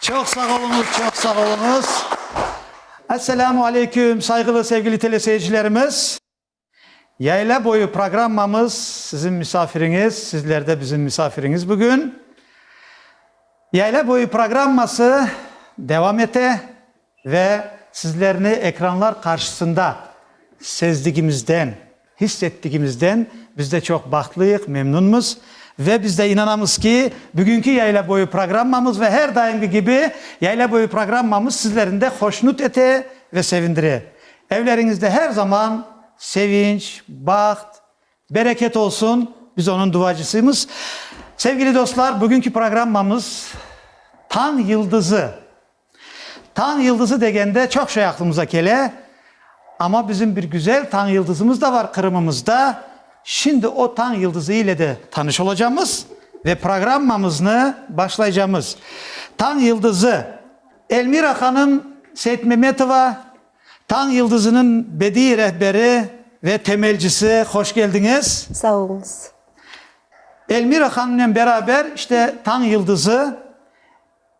Çoq sağ oluñız, çoq sağ oluñız. Esselamu aleyküm, sayğılı, sevgili teleseyircilerimiz. Yayla boyu programmamız sizin misafiriñiz, sizler de bizim misafiriñiz bugün. Yayla boyu programması devam ete. Ve sizlerni ekranlar qarşısında sezdigimizden, his ettigimizden biz de çoq bahtlıyıq, memnunmız. Ve biz de inanamız ki, bugünki Yayla boyu programmamız ve her daimgi kibi Yayla boyu programmamız sizlerni de hoşnut ete ve sevindire. Evleriñizde her zaman sevinç, baht, bereket olsun, biz onıñ duacısıymız. Sevgili dostlar, bugünki programmamız Tañ yıldızı Tañ yıldızı degende çoq şey aqlımıza kele, amma bizim bir güzel tañ yıldızımız da bar Qırımımızda. Şimdi o tañ yıldızı ile de tanış olacamız ve programmamıznı başlaycamız. Tañ yıldızı, Elmira hanım Seytmemetova, tañ yıldızınıñ bediiy rehberi ve temelcisi, hoş keldiñiz. Sağ oluñız. Elmira hanımnen beraber işte tañ yıldızı.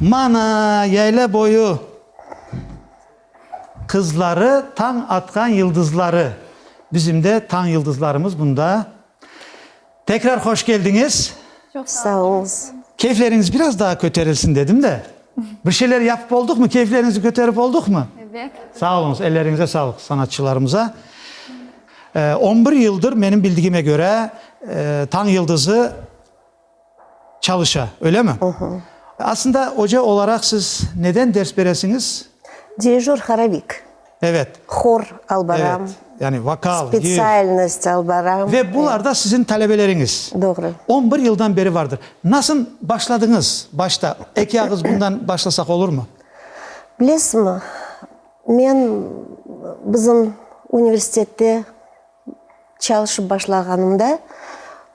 Mana, yayla boyu qızları, tañ atqan yıldızları. Bizim de tañ yıldızlarımız bunda. Tekrar hoş keldiñiz. Çoq sağ olunız. Keyfleriñiz biraz daa köterilsin dedim de. Bir şeyler yapıp olduqmı, keyfleriñizni köterip olduqmı? Evet. Sağ olunız, elleriñize sağlıq sanatçılarımıza. On bir yıldır, menim bildigime köre, tañ yıldızı Çalışa, öylemi? Aslında oca olaraq siz neden ders beresiñiz? Dirijör horovik. Evet. Hor alıp baram. Evet. Yani vokal, gir. Spetsialnost alıp baram. Ve bular da siziñ talebeleriñiz. Doğru. On bir yıldan beri vardır. Nasıl başladıñız başta? Eki ağız bundan başlasaq olurmı? Bilesiñmi, men bizim universitette Çalışıp başlağanımda,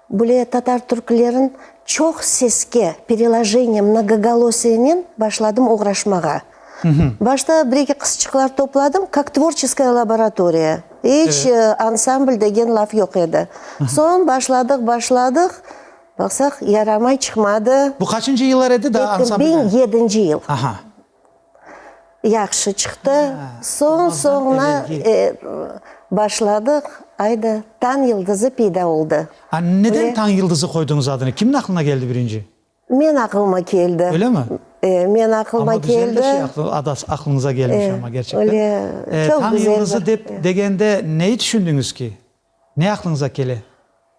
bule tatar türklerin çoq seske, perilojeniye, mnogogolusiyenen başladım oğraşmağa. Başta bir-eki qısçıqlar topladım, kak tvorçeskoye laboratoriya, iç ansamblь degen laf yoq edi. Soñ başladıq, başladıq, baqsaq, yaramay, çıqmadı. Bu qaçıncı yıllar edi? Daa ansamblde. Biñ yedinci yıl. Aha. yahşı çıqtı, soñ-soñuna başladıq, ayda Tañ yıldızı peyda oldı. Neden Tañ yıldızı qoyduñız adını? Kimniñ aqılına keldi birinci? Men aqılıma keldi. Öylemi? Men aqılıma keldi. Amma güzel bir şey adı aqılınıza kelmiş amma, gerçekten. Öyle, çoq güzel bir. Tañ yıldızı degende neyi tüşündüñiz ki? Ne aqlıñıza kele?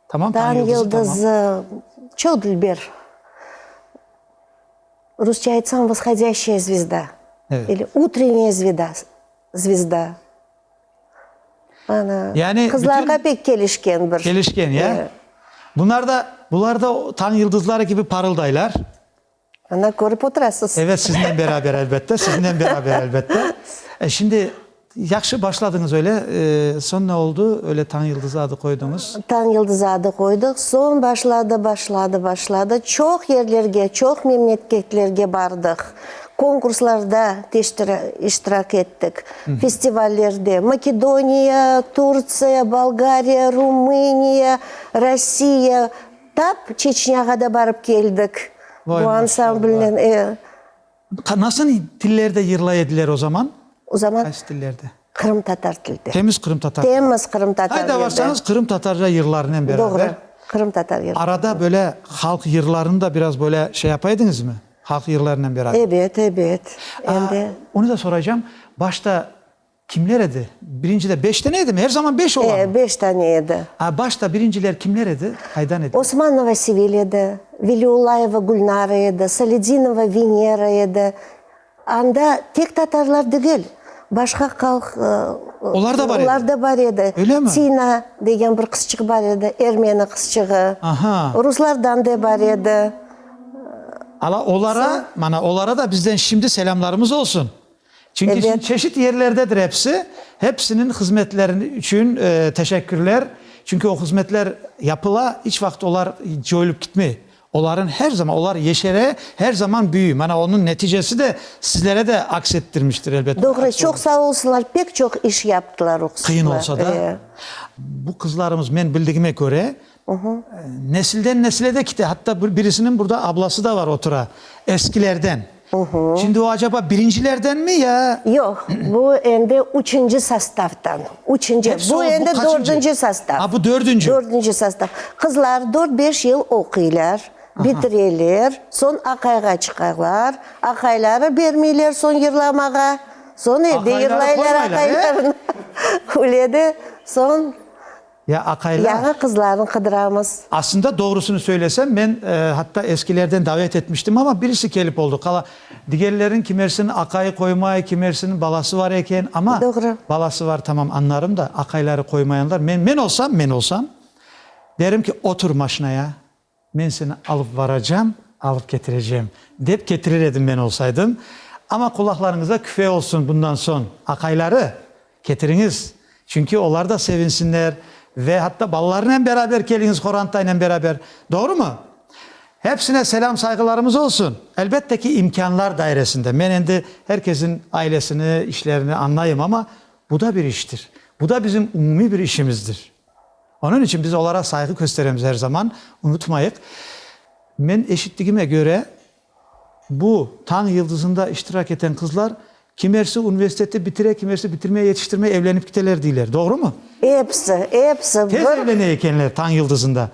Tamam, tañ yıldızı, tamam. Tañ yıldızı, çoq dilber. Rusça aytsañ, voshodyaşşaya zvezda. Evet. İli utrenniye zveda, zvezda. Ana, Yani qızlarğa bütün- pek kelişken bir. Kelişken, ya? Evet. Bunarda, bularda o tañ yıldızları kibi parıldaylar. Ana, körip oturasız. Evet, siznen beraber, elbette, siznen beraber, elbette. E, şimdi, yahşı başladıñız öyle, e, soñ ne oldu? Öyle Tañ yıldızı adı qoyduñız. Tañ yıldızı adı qoydıq, soñ başladı, başladı, başladı. Çoq yerlerge, çoq memleketlerge bardıq, konkurslarda teştira, iştirak ettik, festivallerde, Makedoniya, Turtsiya, Bolgariya, Rumıniya, Rossiya, Tap Çeçnâğa da barıp keldik bu ansamblnen. Nasıl tillerde yırlay ediler o zaman? O zaman? Qaysı tillerde? Qırımtatar tilde. Temiz qırımtatar. Temiz qırımtatar tilde. Qayda barsanız qırımtatarca yırlarınen beraber. Doğru, qırımtatar yırları. Arada böyle halq yırlarını da biraz böyle şey yapa ediñizmi? Halq yırlarınen beraber. Ebet, ebet. Endi. Onı da soraycam, başta Kimler edi? Birinciler beş tane edimi? Er zaman beş olamı? E, beş tane edi. A, başta birinciler kimler edi? Qaydan ediler? Osmanova Sevil edi, Veliullayeva Gülnara edi, Saledinova Venera edi. Anda tek tatarlar degil, başqa halq, Olar da bar edi? Olar da bar edi. Öylemi? Tina degen bir qızçıq bar edi, ermeni qızçığı. Aha. Ruslardan da bar edi. Ala, olara, mana, olara da bizden şimdi selâmlarımız olsun. Çünki çeşit yerlerdedir episi. Hepsiniñ hızmetlerini içün teşekkürler. Çünki o hızmetler yapıla, iç vaqıt olar coyulip kitmey. Olarıñ her zaman, olar yeşere, her zaman büyüy. Mana onıñ neticesi de sizlere de aks ettirmiştir, elbet. Doğru, çoq sağ olsunlar, pek çoq iş yaptılar o qızlar. Qıyın olsa da. Bu qızlarımız, men bildigime köre. Nesilden nesile de kite. Hatta birisiniñ burada ablası da var, otura. Eskilerden. Şimdi o acaba birincilerdenmi ya? Yoq, bu endi üçünci sastavdan. Üçünci. Bu endi dördünci sastav. Ha, bu dördünci. Dördünci sastav. Qızlar dört-beş yıl oquylar, bitireler, soñ aqayğa çıqarlar. Aqayları bermeyler soñ yırlamağa. Soñ evde yırlaylar aqaylarını. Öyle de soñ. Ya aqaylar. Yañı qızlarnı qıdıramız. Aslında, doğrusını söylesem, men hatta eskilerden davet etmiştim, amma birisi kelip oldı. Qala, digerlerin kimersinin aqayı qoymay, kimersinin balası bar eken, amma. Doğru. Balası bar, tamam, añlarım da, aqayları qoymayanlar. Men, men olsam, men olsam, derim ki, otur maşinaya, Men seni alıp varacam, alıp ketirecem, dep ketirir edim men olsaydım. Amma qulaqlarıñızda küfe olsun bundan soñ, aqayları, ketiriñiz, çünki olar da sevinsinler ve hatta balalarınen beraber keliñiz, Horantaynen beraber. Doğrumı? Hepsine selâm-sayğılarımız olsun. Elbette ki, imkânlar dairesinde. Men endi her kesin ailesini, işlerini añlayım, amma bu da bir iştir. Bu da bizim umumiy bir işimizdir. Onıñ içün biz olara sayğı kösteremiz er zaman. Unutmayıq, men eşittigime köre, bu Tañ yıldızında iştirak eten qızlar kimersi universiteti bitire, kimersi bitirmey, yetiştirmey evlenip kiteler deyler. Doğrumı? Episi, episi bir. Tez evlene ekenler Tañ yıldızında.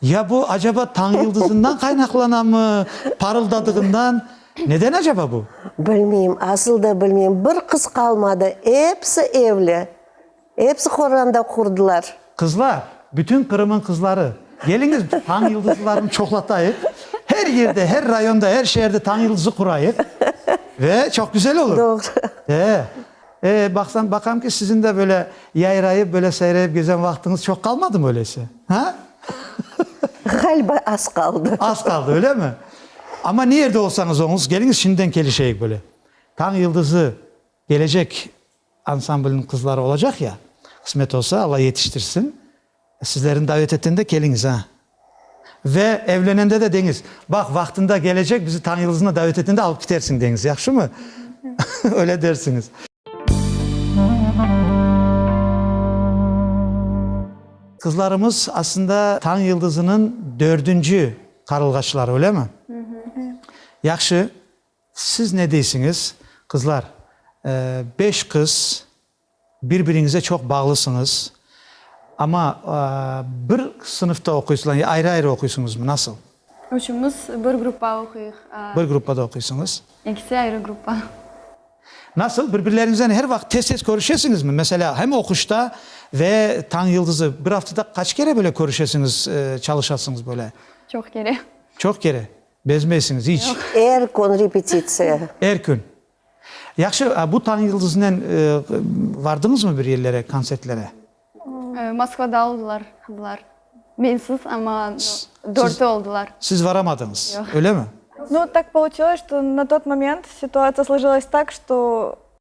Ya bu acaba Tañ yıldızından qaynaqlanamı, parıldadığından? Neden acaba bu? Bilmeyim, asıl da bilmeyim. Bir qız qalmadı, episi evli. Epsi qoranda qurdılar. Qızlar, bütün Qırım'ın qızları, geliñiz, tañ yıldızlılarını çoqlatayıq. Her yerde, her rayonda, her şeerde tañ yıldızı qurayıq. Ve çoq güzel olur. Doğru. Ee, e, baqsam, baqam ki, siziñ de böyle yayrayıp, böyle seyreyip gezen vaqtıñız çoq qalmadımı öyleyse? Ha? Ğaliba az qaldı. Az qaldı, öylemi? Amma ne yerde olsañız oñuz, geliñiz şimdiden kelişeyik böyle. Tañ yıldızı. Gelecek ansamblniñ qızları olacaq ya, qısmet olsa, Alla yetiştirsin, sizlerni davet etende keliñiz, a? Ve evlenende de deñiz, baq, vaqtında gelecek bizi Tañyıldıznı davet etende alıp kitersiñ, deñiz, yahşımı? Öyle dersiñiz. Qızlarımız aslında Tañyıldıznıñ dördünci qarılğaçları, öylemi? Yahşı. Siz ne deysiñiz, qızlar? Beş qız, bir-biriñize çoq bağlısıñız. Amma bir sınıfta oquysıla ya ayrı-ayrı oquysıñızmı, nasıl? Üçümiz bir gruppa oquyıq. Bir gruppada oquysıñız. İkisi ayrı gruppa. Nasıl, bir-birleriñizden her vaqıt tez-tez körüşesiñizmi? Meselâ, hem oquşta ve Tañ yıldızı, bir aftada qaç kere böyle körüşesiñiz, çalışasıñız böyle? Çoq kere. Çoq kere? Bezmeysiñiz, iç. Er kün repetitsiya. Er kün. Yahşı, a bu Tañ yıldızınen vardıñızmı bir yerlere, kontsertlere? Moskvada oldılar bular. Mensiz, amma dörti oldılar. Siz varamadıñız, ölemi? No, tak pouçilay, şto na tot moment situatsia slojilays tak, şto.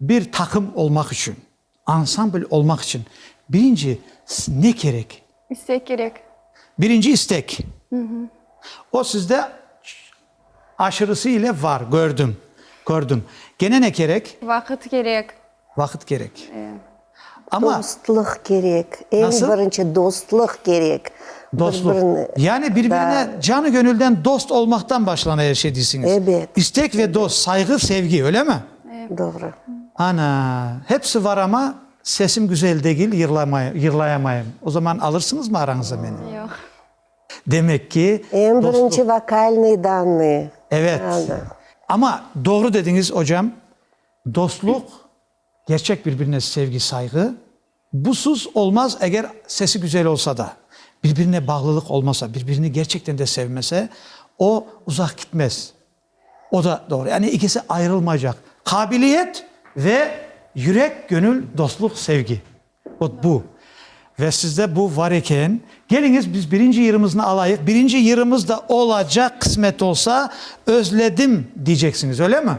Bir taqım olmaq içün, ansambl olmaq içün birinci ne kerek? İstek kerek. Birinci istek. O sizde aşırısı ile var, kördim, kördim. Gene ne kerek? Vaqıt kerek. Vaqıt kerek. Amma. Dostlıq kerek, eñ birinci dostlıq kerek. Dostlıq, yani bir-birine canı-gönülden dost olmaqtan başlana er şey deysiniz. Ebet. İstek ve dost, sayğı, sevgi, öyle mi? Doğru. Ana, hepsi var amma sesim güzel degil, yırlayamayım. O zaman alırsıñızmı arañıza meni? Yoq. Demek ki, dostlıq. Eñ birinci vokalnıy dannıy. Evet. Amma doğru dediñiz, ocam, dostlıq Gerçek birbirine sevgi, sayğı, busuz olmaz, eger sesi güzel olsa da. Birbirine bağlılıq olmasa, birbirini gerçekten de sevmese, o uzaq gitmez. O da doğru. Yani ikisi ayırılmaycaq. Qabiliyet ve yürek, gönül, dostluq, sevgi. Ot bu. Ve sizde bu var eken. Geliñiz, biz birinci yırımıznı alayıq. Birinci yırımız da olacaq, qısmet olsa, özledim, diyceksiñiz, öyle mi?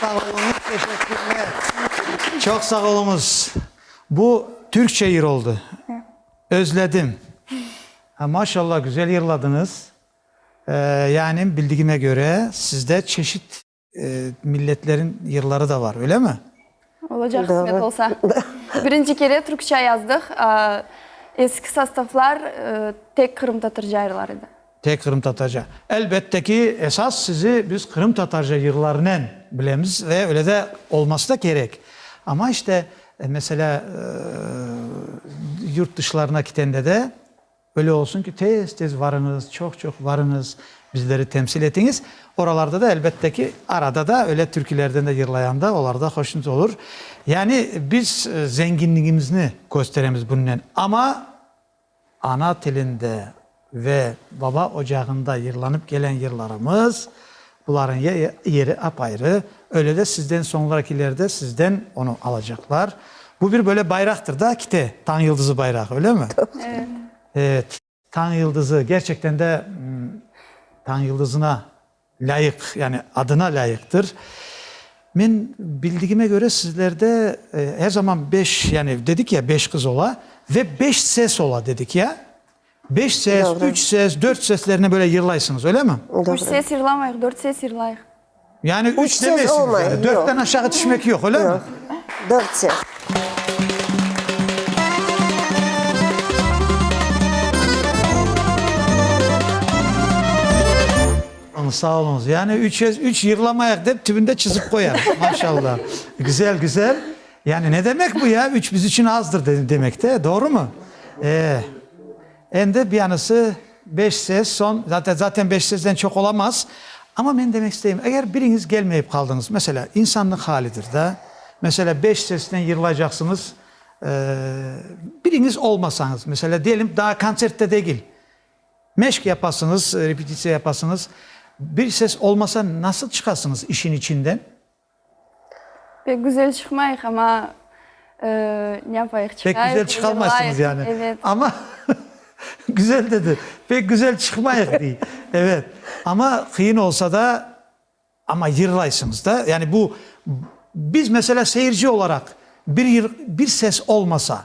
Sağ oluñız, teşekkürler. Çoq sağ oluñız. Bu türkçe yır oldı. Özledim. Maşallah, güzel yırladıñız. Yani bildigime köre, sizde çeşit. Milletleriñ yırları da bar, öylemi? Olacaq, qısmet olsa. Birinci kere türkçe yazdıq. Eski sostavlar tek qırımtatarca yırlar edi. Tek qırımtatarca. Elbette ki, esas sizi biz qırımtatarca yırlarınen bilemiz ve öyle de olması da kerek. Amma işte, meselâ, yurt dışlarına ketende de, Böyle olsun ki, tez-tez varıñız, çoq-çoq varıñız, bizleri temsil etiñiz. Oralarda da, elbette ki, arada da öyle türkülerden de yırlayanda olar da hoşnut olur. Yani biz zenginligimizni kösteremiz bunnen. Amma ana tilinde ve baba ocağında yırlanıp kelen yırlarımız Bularnıñ yeri apayrı, öyle de sizden soñrakiler de sizden onı alacaqlar. Bu bir böyle bayraqtır da, kite, tañ yıldızı bayrağı, öylemi? Evet. Tañ yıldızı, gerçekten de tañ yıldızına lâyıq, yani adına lâyıqtır. Men bildigime köre, sizlerde her zaman beş, yani dedik ya, beş qız ola ve beş ses ola dedik ya. Beş ses, üç ses, dört seslerine böyle yırlaysıñız, öylemi? Üç ses yırlamayıq, dört ses yırlayıq. Yani üç demeysiñiz, yani dörtten aşağı tüşmek yoq, öylemi? Yoq, dört ses. Sağ oluñız. Yani üç ses, üç yırlamayıq dep tübünde çızıp qoyarıq. Maşallah. Güzel, güzel. Yani ne demek bu ya, üç biz içün azdır demek de, doğrumı? E, endi biyanısı beş ses, soñ, zaten, zaten beş sesden çoq olamaz. Amma men demek isteyim, eger biriñiz gelmeyip qaldıñız, meselâ, insannıñ halidir da, meselâ, beş sesnen yırlaycaqsıñız, e, biriñiz olmasañız, meselâ, diyelim, daa kontsertte degil, meşq yapasıñız, repetisiya yapasıñız, bir ses olmasa, nasıl çıqasıñız işin içinden? Pek güzel çıqmayıq, amma ne yapayıq, çıqayıq, yırlayıq. Pek güzel çıqalmaysıñız yani. Evet. Amma güzel dedi, pek güzel çıqmayıq dey. Evet, amma qıyın olsa da, amma yırlaysıñız da. Yani bu, biz, meselâ, seyirci olaraq, bir bir ses olmasa,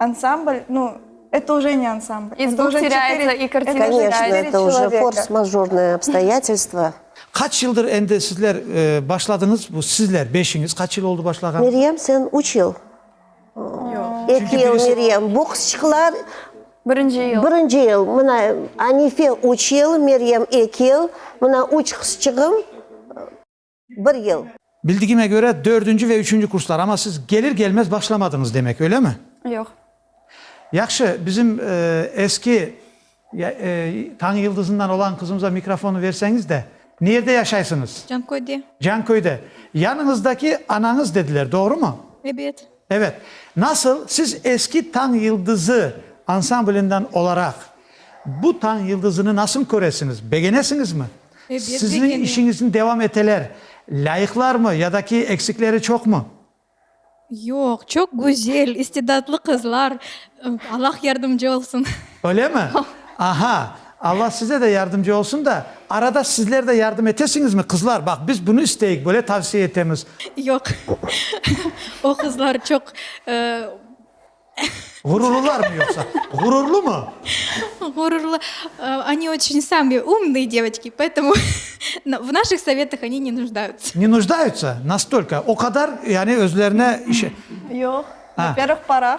Ansambl, nu, et uje ne ansambl. İz dug terâyatsa i kartina terâyatsa. Koniçno, et uje forsmajornoye obstoyatelstvo. Qaç yıldır endi sizler başladıñız, bu sizler beşiñiz qaç yıl oldı başlağanı? Meryem, sen üç yıl. Yoq. Eki yıl Meryem. Boksçıqlar Birinci yıl. birinci yıl. Mına Anife üç yıl, Meryem eki yıl. Mına üç qızçığım. bir yıl. Bildigime köre, dördünci ve üçünci kurslar, amma siz gelir-gelmez başlamadıñız demek, öylemi? Yoq. Yahşı, bizim eski Tañ yıldızından olan qızımıza mikrofonı verseñiz de. Niyerde yaşaysıñız? Canköyde. Canköyde. Yanıñızdaki anañız dediler, doğrumu? Ebet. Evet, nasıl siz eski Tañ yıldızı ansamblinden olaraq bu Tañ yıldızını nasıl köresiñiz? Begenesiñizmi? Sizniñ işiñizni devam eteler lâyıqlarmı ya da ki eksikleri çoqmı? Yoq, çoq güzel, istidatlı qızlar, Allah yardımcı olsun. Öyle mi? Aha, Alla size de yardımcı olsun da, arada sizler de yardım etesiñizmi, qızlar? Baq, biz bunı isteyik, böyle tavsiye etemiz. Yoq, o qızlar çoq, ıı. Ğururlılarmı yoqsa? Ğururlımı? Ğururlı, Oni oçün sami umnıy devotki, poetumu v naših sovetih oni ne nuždayutsa. Ne nuždayutsa? Nastolko? O qadar, yani, özlerine. Yoq, vapervıh, parah.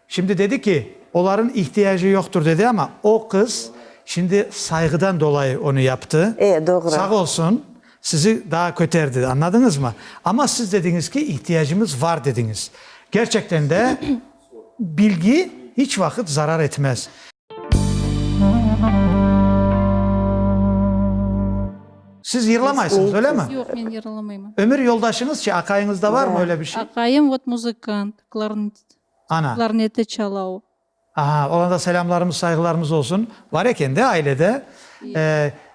Şimdi dedi ki, oların ihtiyacı yoqtur dedi, ama o qız şimdi sayğıdan dolayı onı yaptı. E, doğru. Sağ olsun, sizi daa köterdi, anladıñızmı? Ama siz dediñiz ki, ihtiyacımız var dediñiz. Gerçekten de bilgi iç vaqıt zarar etmez. Siz yırlamaysıñız, öyle mi? Yoq, men yırlamayman. Ömür yoldaşıñızçı, aqayıñızda varmı öyle bir şey? Aqayım, vot, muzıkant, klarnetist. Ana. Klarneti çalau. Aha, olarğa da selâmlarımız, sayğılarımız olsun. Bar eken de ailede.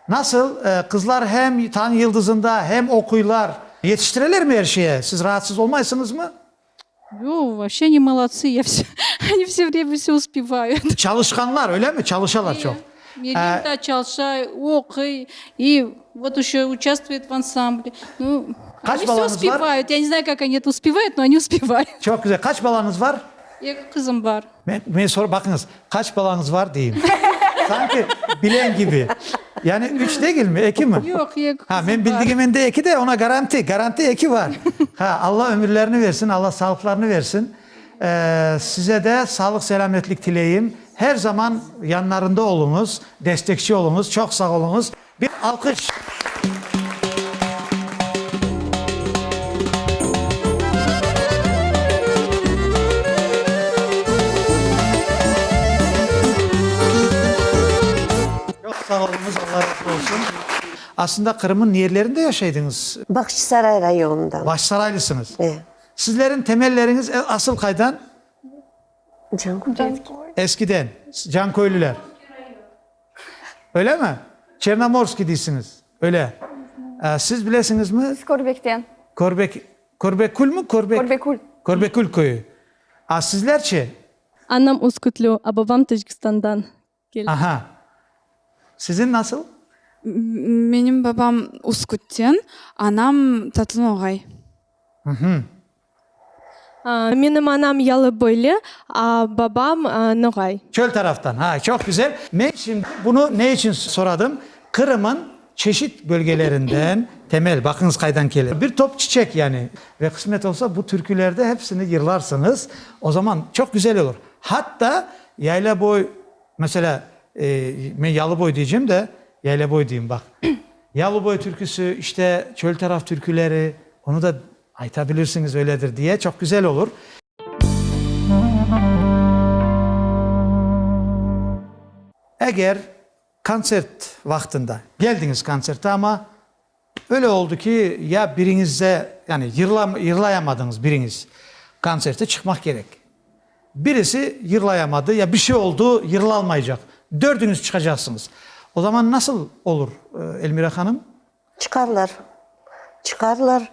Nasıl, qızlar hem Tañ yıldızında, hem oquylar. Yetiştirelermi er şeye? Siz raatsız olmaysıñızmı? Yo, vapşe ne molodtsı, ya, vse, oni vse vremya vse uspevayut. Çalışqanlar, öyle mi? Çalışalar çoq. Elim da çalışa, oquy, i vot üşü uçastvuyet v ansamble. Nu, Qaç balanız var? uspevayut, ya ne znay kak ani et uspevayut, no ani uspevayut. Çoq güzel. Qaç balanız var? Eki qızım bar. Men, men sor, baqıñız, qaç balanız var deyim. Sanki bilen kibi. Yani üç degilmi, eki mi? Yoq, eki qızım bar. Ha, men bildigimen de eki de, ona garanti, garanti eki bar. Ha, Alla ömürlerini versin, Alla sağlıqlarını versin. Size de sağlıq-selâmetlik tileyim. Her zaman yanlarında oluñız, destekçi oluñız. Çoq sağ oluñız. Bir alqış! Çoq sağ oluñız, Allah razı olsun. Aslında Qırım'ın niyerlerinde yaşaydıñız? Bağçasaray rayonından. Bağçasaraylısıñız? E. Sizleriñ temelleriñiz asıl qaydan? Canköy. Eskiden, Canköylüler. Öylemi? Çernomorskiy deysiñiz. Öyle. Siz bilesiñizmi? Biz Körbekten. Körbek, Körbekülmi? Körbek. Körbekül. Körbekül köyü. A sizler çe? Anam Üskütlü, a babam Tackistandan. Aha! Siziñ nasıl? Menim babam Uskütten, anam Tatlınoğay. Uhmm. Menim anam Yalıboyli, babam Noğay. Çöl taraftan. Ha, çoq güzel. Men şimdi bunı ne içün soradım? Qırım'ın çeşit bölgelerinden Temel, baqıñız qaydan kele. Bir top çiçek yani. Ve qısmet olsa bu türkülerde hepsini yırlarsıñız. O zaman çoq güzel olur. Hatta Yaylaboy, meselâ, men Yalıboy deycem de, Yaylaboy deyim, baq. Yalıboy türküsü, işte, çöl taraf türküleri, onı da aytabilirsiñiz, öyledir diye, çoq güzel olur. Eger kontsert vaqtında, keldiñiz kontsertte, amma Böyle oldı ki, ya biriñizde, yani yırlayamadınız biriñiz, konsertte çıqmaq kerek. Birisi yırlayamadı ya bir şey oldı, yırlalmaycaq. Dördüñiz çıqacaqsıñız. O zaman nasıl olur, Elmira hanım? Çıqarlar, çıqarlar.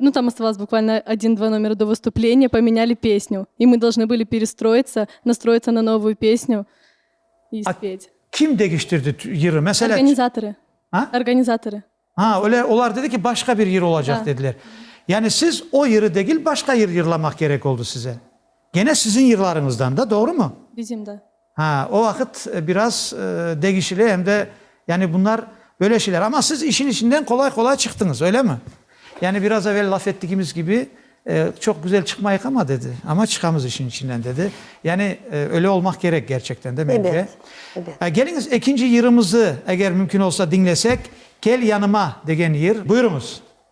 Nu, tam ostvalâs bukvalno odin-dva nomeri do vostupleniya, pomenyali pesnyu, i mı dolžnı bıli perestroitsa, nastroitsa na novuyu pesnyu i spet. Kim degiştirdi yırı? Meselâ. Organizatorı. A? Organizatorı. A, öyle, olar dedi ki, başqa bir yır olacaq dediler. Yani siz o yırı degil, başqa yır yırlamaq kerek oldu size. Gene siziñ yırlarıñızdan da, doğrumı? Bizim, da. Ha, o vaqıt biraz degişli em de, yani bunlar böyle şeyler. Ama siz işin içinden qolay-qolay çıqtıñız, öylemi? Yani biraz evel laf ettigimiz kibi, çoq güzel çıqmayıq ama, dedi, ama çıqamız işin içinden, dedi. Yani öyle olmaq kerek gerçekten de, mence. Ebet, ebet. Keliñiz, ekinci yırımızı, eger mümkün olsa, diñlesek, Kel yanıma degen yır. Buyurıñız.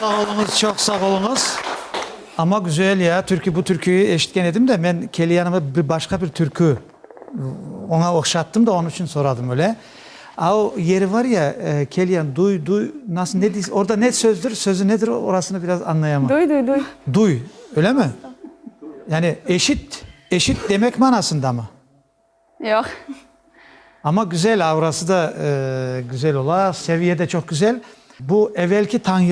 Sağ oluñız, çoq sağ oluñız. Amma güzel ya, türkü, bu türküyü eşitken edim de, men keli yanıma bir başqa bir türkü oña oqşattım da, onıñ içün soradım öyle. A o yeri var ya, kel yan, duy, duy, nasıl, ne deyiz, orda ne sözdür, sözü nedir, orasını biraz añlayamam. Duy, duy, duy. Duy, öyle mi? Yani eşit. Eşit demek manasındamı? Yoq. Amma güzel, aurası da güzel ola, seviye de çoq güzel. Bu evelki tañ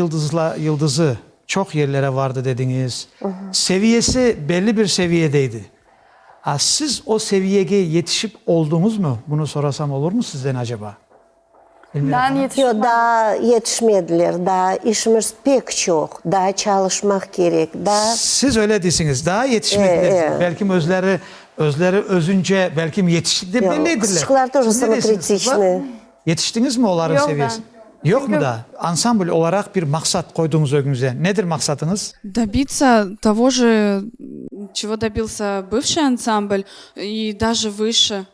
yıldızı çoq yerlere vardı dediñiz. Seviyesi belli bir seviyedeydi. Siz o seviyege yetişip olduñızmı? Bunı sorasam olurmı sizden aceba? Yoq, daa yetişmediler, daa işimiz pek çoq, daa çalışmaq kerek, daa. Siz öyle deysiñiz, daa yetişmediler dep, belki özleri, özleri özünce belki yetiştiler, belli ediler. Qızçıqlar toja samokritiçnıy. Yetiştiñizmi olarnıñ seviyesine? Yoqmı daa? Ansambl olaraq bir maqsat qoyduñız ögüñizde. Nedir maqsatıñız? Dobitsa tovoje, çego dobился bıvşıy ansambl, i daje vışı.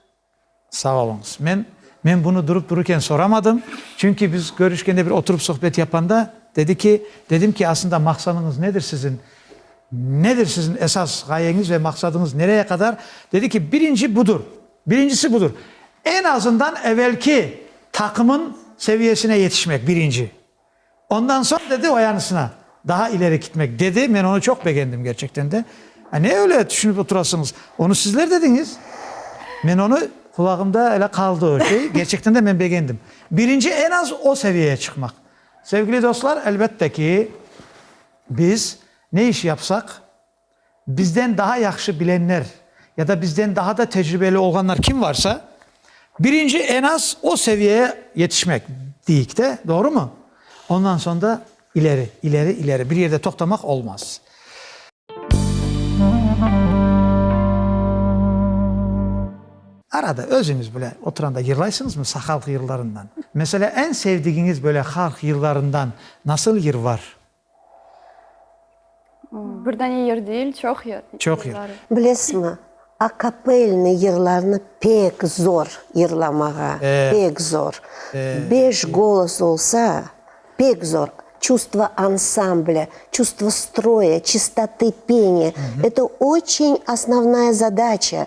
Sağ oluñız. Men, men bunı durup dururken soramadım, çünki biz körüşkende bir oturup sohbet yapanda, dedi ki, dedim ki, asında maqsanıñız nedir sizin, nedir sizin esas ğayeñiz ve maqsadıñız nereye qadar, dedi ki, birinci budur, birincisi budur, en azından evelki taqımın seviyesine yetişmek, birinci. Ondan soñ, dedi, o yanısına daha ileri kitmek, dedi. Men onı çoq begendim, kerçekten de. A ne öyle tüşünip oturasıñız? Onı sizler dediñiz. Men onı, qulağımda öyle qaldı o şey. Kerçekten de men begendim. Birinci, en az o seviyeye çıqmaq. Sevgili dostlar, elbette ki, biz ne iş yapsaq, bizden daha yahşı bilenler ya da bizden daha da tecribeli olğanlar kim varsa, birinci en az o seviyeye yetişmek deyik de, doğrumı? Ondan soñ da ileri, ileri, ileri, bir yerde toqtamaq olmaz. Arada özüñiz bile oturanda yırlaysıñızmı sahalq yırlarından? Meselâ, en sevdigiñiz böyle halq yırlarından nasıl yır var? Bir dane yır deyil, çoq yır. Çoq yır. Bilesizmi, akapelniy yırlarnı pek zor yırlamağa, pek zor. Beş golos olsa, pek zor. Çustvo ansamblâ, çustvo stroya, çistote peni, eto oçeñ osnovnaya zadaça,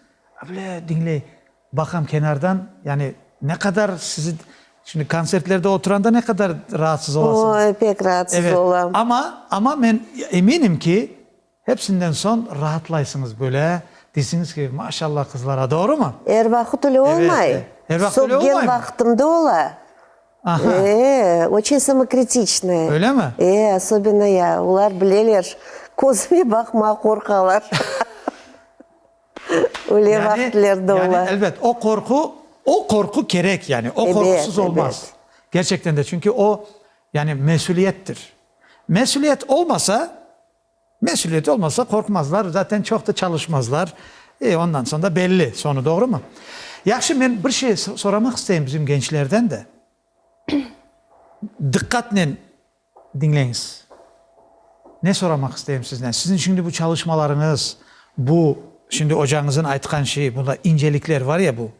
Böyle diñley, baqam kenardan, yani ne qadar sizi, şimdi kontsertlerde oturanda ne qadar raatsız olasıñız. Oy, pek raatsız olam. Evet, amma, amma men eminim ki, hepsinden soñ raatlaysıñız böyle, deysiñiz ki, maşallah qızlar, doğrumı? Er vaqıt öyle olmay. Evet, er vaqıt öyle olmay mı? Sopgen vaqıtımda ola. Aha. Ee, oçün samokritiçnıy. Öyle mi? Ee, asobena ya, olar bileler, közüme baqmağa qorqalar. Öyle vaqıtlar da ola. Elbet, o qorqu, o qorqu kerek, yani, o qorqusız olmaz. Kerçekten de, çünki o, yani, mesüliyettir. Mesüliyet olmasa, mesüliyet olmasa qorqmazlar, zaten çoq da çalışmazlar. E, ondan soñ da belli soñu, doğrumu? Yahşı, men bir şey soramaq isteyim bizim gençlerden de. Diqqatnen Diñleñiz. Ne soramaq isteyim sizden? Siziñ şimdi bu çalışmalarıñız, bu şimdi ocañızın aytqan şeyi, bunda incelikler var ya bu.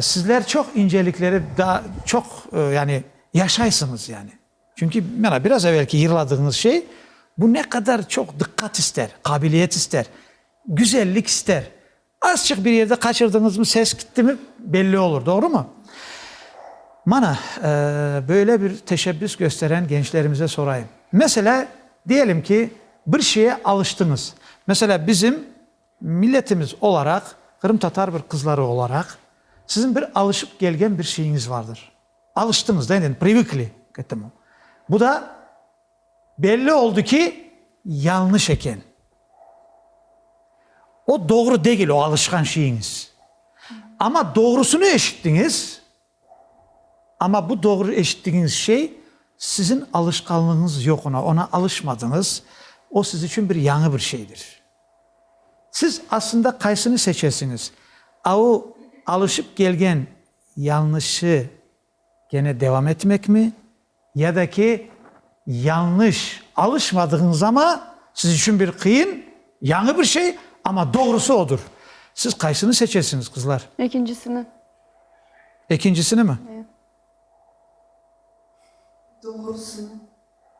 Sizler çoq incelikleri daa çoq, yani, yaşaysıñız, yani. Çünki, mana, biraz evelki yırladığıñız şey, bu ne qadar çoq diqqat ister, qabiliyet ister, güzellik ister. Azçıq bir yerde qaçırdıñızmı, ses gittimi, belli olur, doğrumı? Mana, böyle bir teşebbüs gösteren gençlerimize sorayım. Meselâ, diyelim ki, bir şeye alıştıñız. Meselâ, bizim milletimiz olaraq, qırımtatar bir qızları olaraq, siziñ bir alışıp kelgen bir şeyiñiz vardır. Alıştıñız da, endi, privıkli k etemu. Bu da Belli oldı ki, yanlış eken. O doğru degil, o alışqan şeyiñiz. Amma doğrusını eşittiñiz, amma bu doğru eşittigiñiz şey siziñ alışqanlığıñız yoq ona, ona alışmadıñız, o siz içün bir yañı bir şeydir. Siz aslında qaysını seçesiñiz, a o alışıp kelgen yanlışı, Kene devam etmekmi? Ya da ki, yañlış, alışmadığıñız ama siz içün bir qıyın, yañı bir şey, ama doğrusı odur. Siz qaysını seçesiñiz, qızlar? Ekincisini. Ekincisinimi? Eee. Doğrusını.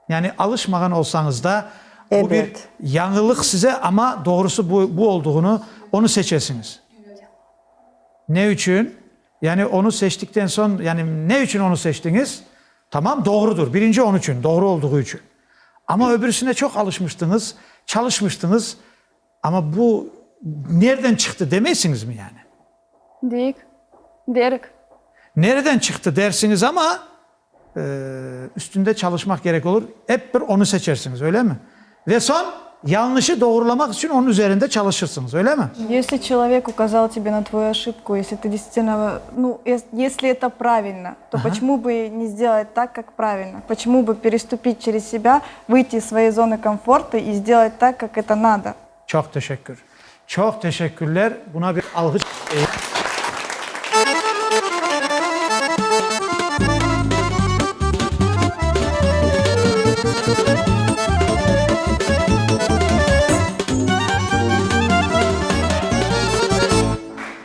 Yani alışmağan olsañız da, bu bir yañılıq size, amma doğrusı bu bu olduğını, onı seçesiñiz. Ne içün? Yani onı seçtikten soñ, yani ne içün onı seçtiñiz? Tamam, doğrudır, birinci onıçün, doğru olduğu içün. Amma öbürisine çoq alışmıştıñız, çalışmıştıñız, Amma bu nereden çıqtı demeysiñizmi yani? Deyik, derik. Nereden çıqtı dersiñiz amma, üstünde çalışmaq kerek olur, ep bir onı seçersiñiz, öylemi? Ve soñ yañlışı doğrulamaq içün onıñ üzerinde çalışırsıñız, öylemi? Yesli çelovek ukazal tebe na tvoyu oşıpku, yesli tı desistenno, nu, yesli eto pravilno, to počemu bı ne sdelait tak, kak pravilno? Počemu bı perestupit çerez sebâ Vıyti iz svoyey zonı komfortı i zdelay tak, kak eto nado. Çoq teşekkür. Çoq teşekkürler. Buna bir alğış isteyim.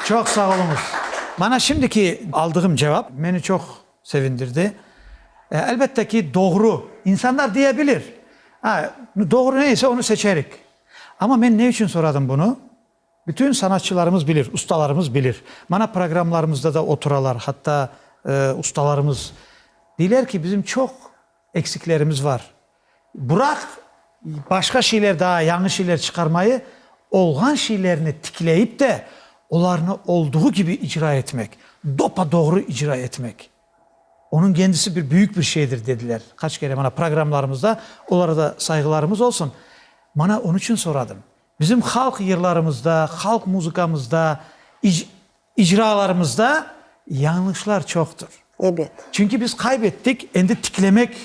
Çoq sağ oluñız. Mana şimdiki aldığım cevap meni çoq Sevindirdi. E, elbette ki, doğru. İnsanlar diye bilir. A, doğru ne ise onu seçerik. Amma men ne içün soradım bunı? Bütün sanatçılarımız bilir, ustalarımız bilir. Mana programlarımızda da oturalar, hatta, e, ustalarımız. Deyler ki, bizim çoq, Eksiklerimiz var. Bıraq, başqa şeyler daa, yañı şeyler çıqarmayı, olğan şeylerni tikleyip de, olarnı olduğu kibi icra etmek, dopa-doğru icra etmek, onıñ kendisi bir büyük bir şeydir, dediler. Qaç kere mana programlarımızda olara da sayğılarımız olsun. Mana onıñ içün soradım. Bizim halq yırlarımızda, halq muzıkamızda, icralarımızda yañlışlar çoqtır. Ebet. Çünki biz qaybettik, endi tiklemek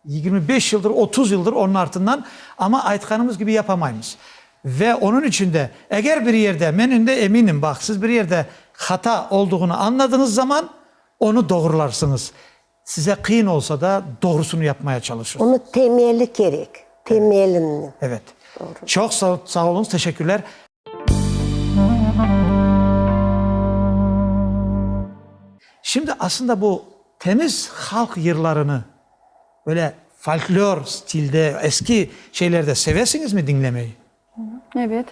yigirmi beş yıldır, otuz yıldır onıñ artından, amma aytqanımız kibi yapamaymız. Ve onıñ içün de, eger bir yerde, men ünde eminim, baq, siz bir yerde hata olduğını añladıñız zaman, onı doğrularsıñız. Size qıyın olsa da, doğrusını yapmaya çalışırsıñız. Onı temeli kerek, temelini. Evet. Doğru. Çoq sa sağ oluñız, teşekkürler. Şimdi aslında bu temiz halq yırlarını böyle folklor stilde, eski şeylerde sevesiñizmi diñlemeyi? Ebet.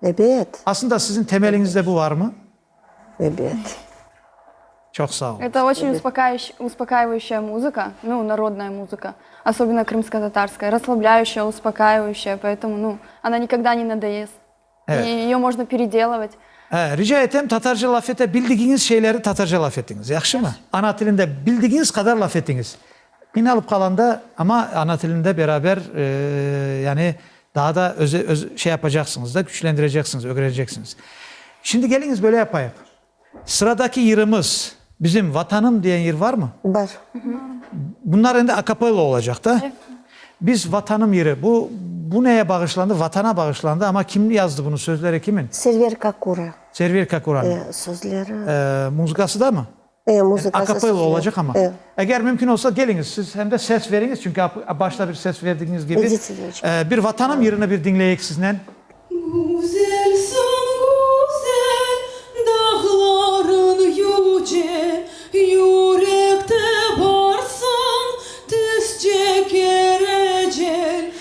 Ebet. Aslında siziñ temeliñizde bu varmı? Ebet. Çoq sağ olunız. Eto oçiñ uspokayışı, uspokayıvayışaya muzıka, nu, narodnaya muzıka, osobino krımskotatarskaya, raslablâyışaya, uspokayıvayışaya, poetumu, nu, ona nikogda ne nadoyest. Evet. İ iyo možno peredelovıt. Hâ, rica etem, tatarca laf ete bildigiñiz şeyleri tatarca laf etiñiz, yahşımı? Ana tilinde bildigiñiz qadar laf etiñiz. Qıynalıp qalanda, amma ana tilinde beraber, yani daa da özü, öz, şey yapacaqsıñız da, küçlendireceqsiñiz, ögreneceqsiñiz. Şimdi keliñiz böyle yapayıq. Sıradaki yırımız, bizim Vatanım diyen yır varmı? Bar. Bunlar endi akapella olacaq da. Biz Vatanım yırı, bu, bu neye bağışlandı? Vatana bağışlandı, amma kim yazdı bunu, sözleri kimin? Server Kakura. Server Kakuranıñ. Sözleri. Muzıkası da mı? A capella olacaq amma. Eger mümkün olsa, keliñiz, siz hem de ses veriñiz, çünki başta bir ses verdigiñiz kibi. Bir Vatanım yırını bir diñleyik siznen. Güzelsiñ, güzel, dağlarıñ yüce, Yürekte barsıñ, tizce kerecel.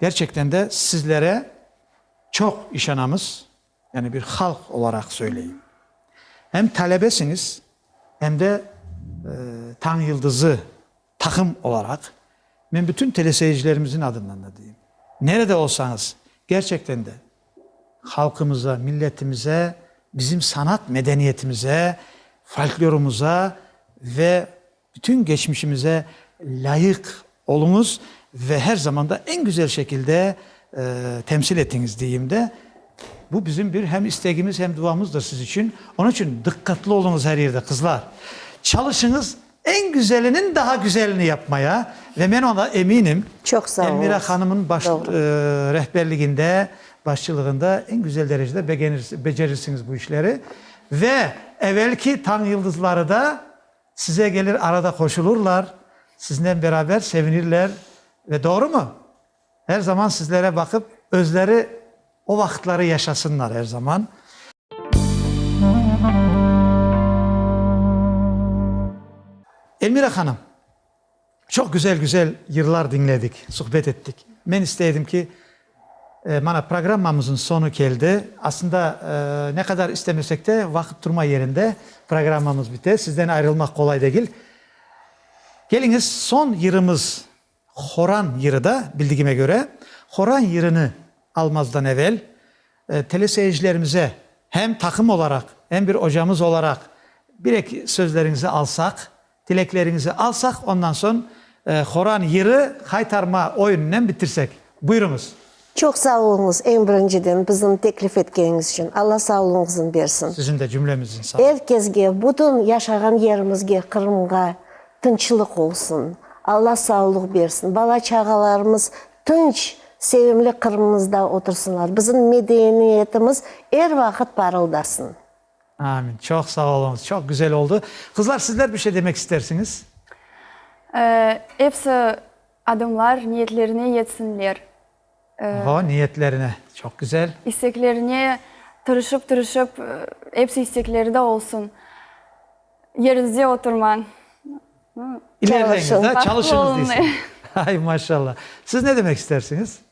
Kerçekten de sizlere çoq işanamız, yani bir halq olaraq söyleyim. Hem talebesiñiz, hem de Tañ Yıldızı taqım olaraq, men bütün teleseyircilerimizin adından da deyim, nerede olsañız, kerçekten de halqımıza, milletimize, bizim sanat medeniyetimize, folklorımıza ve Bütün geçmişimize lâyıq oluñız ve her zaman da eñ güzel şekilde temsil etiñiz deyim de, bu bizim bir hem istegimiz, hem duamızdır siz içün. Onıñ içün dıqqatlı oluñız her yerde, qızlar. Çalışıñız, eñ güzeliniñ daha güzelini yapmaya ve men ona eminim, Elmira hanımnıñ baş rehberliginde, başçılığında eñ güzel derecede beceririñiz bu işleri ve evelki tañ yıldızları da Size gelir arada qoşulurlar, siznen beraber sevinirler ve doğrumı? Her zaman sizlere baqıp özleri o vaqıtları yaşasınlar her zaman. Elmira hanım, Çoq güzel-güzel yırlar diñledik, suhbet ettik. Men istey edim ki, mana programmamızın sonu keldi. Aslında ne qadar istemesek de, vaqıt turma yerinde, programmamız bite, sizden ayrılmaq qolay degil. Keliñiz, son yırımız Horan yırı da, bildigime köre. Horan yırını almazdan evel, teleseyircilerimize hem taqım olaraq, hem bir ocamız olaraq bir-eki sözleriñizi alsaq, Tilekleriñizi alsaq, ondan soñ Qoran yırı qaytarma oyunınen bitirsek. Buyurıñız. Çoq sağ oluñız, eñ birinciden, bizni teklif etkeniñiz içün. Alla sağlığıñıznı bersin. Siziñ de cümlemizniñ sağlığı. Er kezge, bütün yaşağan yerimizge, Qırımğa tınçlıq olsun. Alla sağlıq bersin. Bala-çağalarımız tınç, sevimli Qırımımızda otursınlar. Bizim medeniyetimiz er vaqıt parıldasın. Amin. Çoq sağ oluñız. Çoq güzel oldı. Qızlar, sizler bir şey demek istersiñiz? Ee, epsi adamlar niyetlerine yetsinler. Oho, niyetlerine. Çoq güzel. İsteklerine tırışıp-tırışıp, epsi istekleri de olsun. Yerinizde oturmañ. İlerleñiz, da, çalışıñız, deysem. Ay, maşallah. Siz ne demek istersiñiz?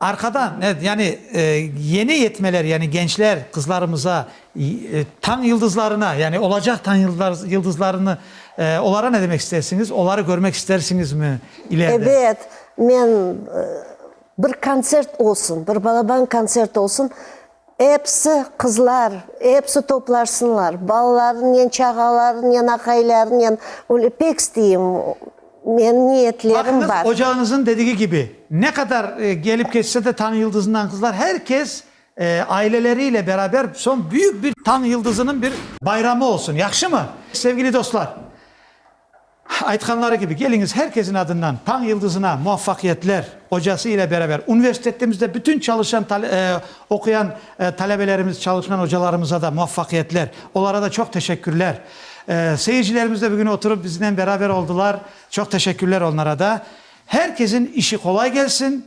Arqadan, evet, yani yeni yetmeler, yani gençler, qızlarımıza, tañ yıldızlarına, yani olacaq tañ yıldızlarını, olara ne demek istersiñiz? Oları körmek istersiñizmi ilerde? Evet, men bir kontsert olsun, bir balaban kontsert olsun, Episi qızlar, episi toplaşsınlar, balalarınen, çağalarınen, aqaylarınen, öyle pek isteyim, menim niyetlerim bar. Baqıñız, ocağıñızın dedigi kibi, ne qadar kelip keçse de tañ yıldızından qızlar, her kes aileleriyle beraber soñ büyük bir tañ yıldızınıñ bir bayramı olsun, yahşımı? Sevgili dostlar! Aytqanları kibi, keliñiz, her kesin adından Tañ yıldızına muvaffaqiyetler! Ocası ile beraber universitetimizde bütün çalışan, oquyan talebelerimiz, çalışqan ocalarımıza da muvaffaqiyetler, olara da çoq teşekkürler. Seyircilerimiz de bugün oturıp biznen beraber oldılar, çoq teşekkürler onlara da. Her kesin işi qolay kelsin,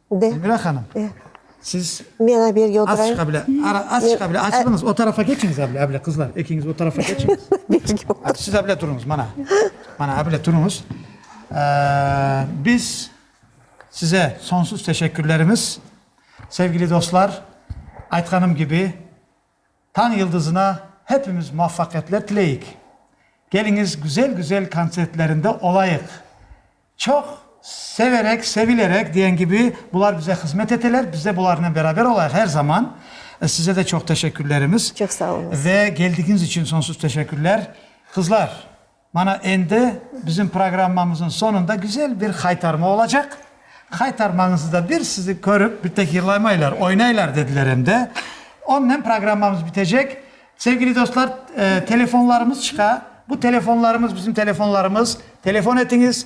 Ben. Elmira hanım. Ben. Siz. Men aberge Az oturayım. çıqa bile. Ara, az çıqa bile. Açılınız. O tarafa keçiniz abile, abile qızlar. Ekiñiz o tarafa keçiniz. Berge otur. Hadi siz abile turunuz, mana. Mana abile turunuz. Ee, biz size sonsuz teşekkürlerimiz. Sevgili dostlar, aytqanım kibi, Tañ yıldızına hepimiz muvafaqiyetler tileyik. Keliñiz güzel-güzel kontsertlerinde olayıq. Çoq severek, sevilerek diyen kibi bular bize hızmet eteler, biz de bularnen beraber olayıq her zaman. Size de çoq teşekkürlerimiz. Çoq sağ oluñız. Ve geldigiñiz içün sonsuz teşekkürler. Qızlar, Mana endi bizim programmamıznıñ soñunda güzel bir haytarma olacaq. Haytarmañızıda bir sizni körip, bir tehirlamaylar, oynaylar, dediler em de. Onnen programmamız bitecek. Sevgili dostlar, telefonlarımız çıqa. Bu telefonlarımız bizim telefonlarımız. Telefon etiñiz.